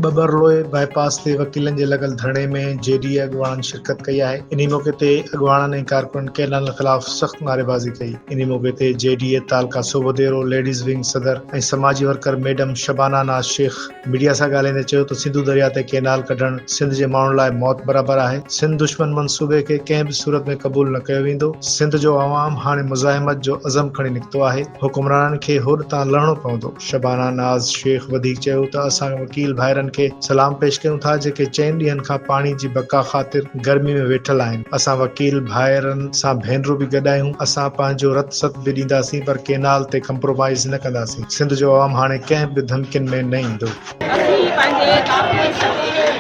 Babarloi bypass تي وڪيلن جي لڳل ڌرڻي ۾ جي ڊي اي اڳواڻن شرڪت ڪئي آهي، انهي موقعي تي اڳواڻن ۽ ڪارڪنن ڪئنالن خلاف سخت نعريبازي ڪئي، انهي موقعي تي جي ڊي اي تعلقه صوڀو ديرو ليڊيز ونگ صدر ۽ سماجي worker madam Shabana Naz Shaikh, media سان ڳالهائيندي چيو ته سنڌو درياهه تي ڪئنال ڪڍڻ سنڌ جي ماڻهن لاء موت برابر آهي، سنڌ دشمن منصوبي کي ڪنهن به صورت ۾ قبول نه ڪيو ويندو، سنڌ جو عوام هاڻي مزاحمت جو عزم کڻي نڪتو آهي، حڪمرانن کي هوڏ تان لهڻو پوندو. شبانه ناز شيخ وڌيڪ چيو ته اسان وڪيل ڀائرن کي سلام پيش ڪيون ٿا جيڪي چئن ڏينهن کان پاڻي جي بقا خاطر گرمي ۾ ويٺل آهن، اسان وڪيل ڀائرن سان ڀينرون به گڏ آهيون، اسان پنهنجو رت ست به ڏينداسين پر ڪئنال تي ڪمپرومائيز نه ڪنداسين. سنڌ جو عوام هاڻي ڪنهن به ڌمڪين ۾ نه ايندو. اسين هي پنهنجي قافلي سميت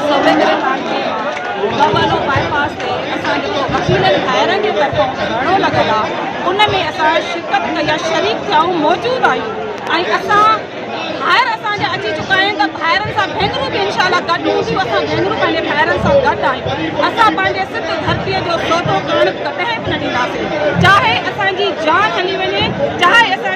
سوڀيندر خان جي بابانو باء پاس تي اسان جيڪو وڪيلن ڀائرن جي طرفان ڌرڻو لڳل آ ان ۾ اسان شرڪت ڪئي آ شريڪ ٿيائون موجود آهيون ۽ اسان ڀائر اسان جا اچي چڪا آهن ته ڀائرن سان ڀينرون به انشاء الله گڏ هونديون اسان ڀينرون پنهنجي ڀائرن سان گڏ آهيون اسان پنهنجي سنڌ ڌرتي جو سودو ڪرڻ ڪڏهن به نه ڏينداسين چاهي اسان جي جان هلي وڃي چاهي اسان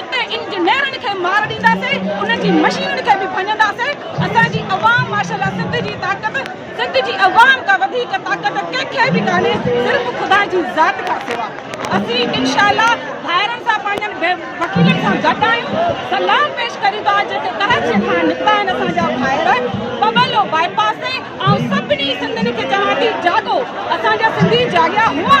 اتي انجنيئرن کي مار ڏينداسين انهن جي مشينن کي به ڀڃنداسين اسان جي عوام ماشاء الله سنڌ جي طاقت سنڌ جي عوام کان وڌيڪ طاقت ڪنهن کي به ڪانهي صرف خدا جي ذات کان سوا اسين انشاء الله ڀائرن سان پنهنجن بي وڪيلن سان گڏ آهيون سلام پيش ڪريون ٿا جيڪي ڪراچي کان نڪتا آهن اسان جا ڀائر پٻلو بائي پاس تي آئون سڀني سنڌين کي چوان ٿي جاڳو اسان جا سنڌي جاڳيا هئا